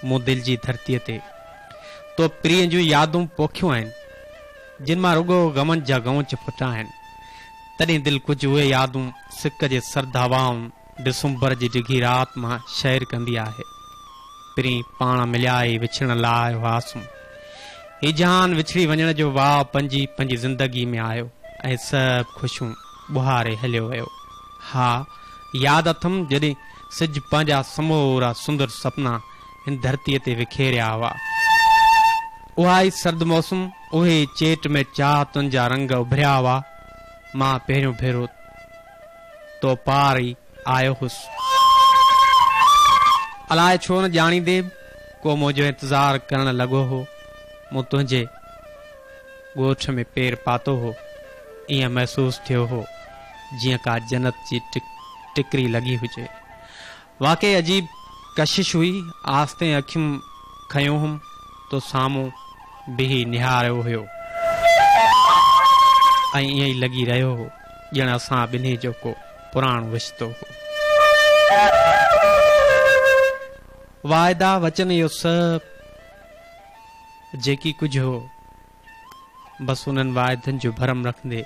مون دل جي ڌرتيء تي تو پرينء جون يادون پوکيون آهن، جن مان رڳو غمن جا غونچ ڦٽا آهن، تڏهن دل ڪجهه اهي يادون سڪ جي سرد هوائن ڊسمبر جي ڊگهي رات مان شعر ڪندي آهي. پرين پاڻ مليا ئي وڇڙڻ لاء آيو هئاسون. هي جهان وڇڙي وڃڻ جو واء پنهنجي پنهنجي زندگي ۾ آيو ۽ سڀ خوشيون ٻهاري هليو ويو. ها، ياد اٿم جڏهن سج پنهنجا سمورا سندر سپنا هن ڌرتيء تي وکيريا هئا. اها ئي سرد موسم، اهي ئي چيٽ ۾ چاهتن جا رنگ اڀريا هئا. مان پهريون ڀيرو تو پار ئي آيو هوس. الاء ڇو نه ڄاڻيندي به ڪو منهنجو انتظار ڪرڻ لڳو هو. مون تنهنجي. ڳوٺ ۾ پير پاتو هو، ائين محسوس ٿيو هو، جيئن ڪا جنت جي ٽڪري لڳي هجي. واقعي عجيب ڪشش هئي، آستين اکيون کنيو هوم تو سامهون بيهي نهاريو هيو ۽ ائين لڳي رهيو هو، ڄڻ اسان ٻنهي جو ڪو پراڻو رشتو هو. واعدا وچن اهو سڀ. جيڪي ڪجهه هو، بس انهن واعدن جو ڀرم رکندي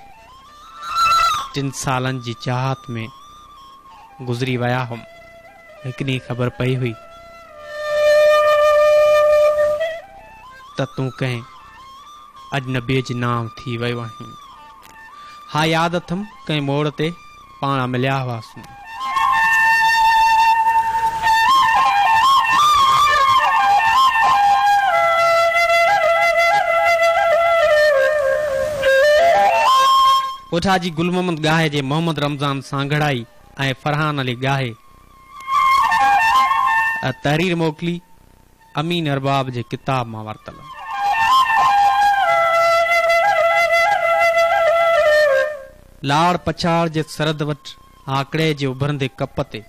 ٽن سالن جي چاهت ۾ گذري ويا هئم. هڪ ڏينهن خبر پئي هئي ته تون ڪنهن اجنبيء جي نانء ٿي ويو آهين. ها ياد اٿم ڪنهن موڙ تي پاڻ مليا هئاسون. اوجها جي گل محمد ڳاهي جي محمد رمضان سانگهڙائي ۽ فرحان علي ڳاهي تحرير موڪلي. امين ارباب جي ڪتاب مان ورتل. لاڙ پڇاڙ جي سرحد وٽ هاڪڙي جي اڀرندي ڪپ تي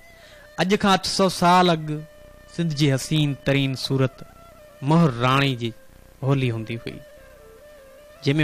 اڄ کان اٺ سؤ سال اڳ سنڌ جي حسين ترين صورت مهر راڻي جي هولي هوندي هئي جنهن ۾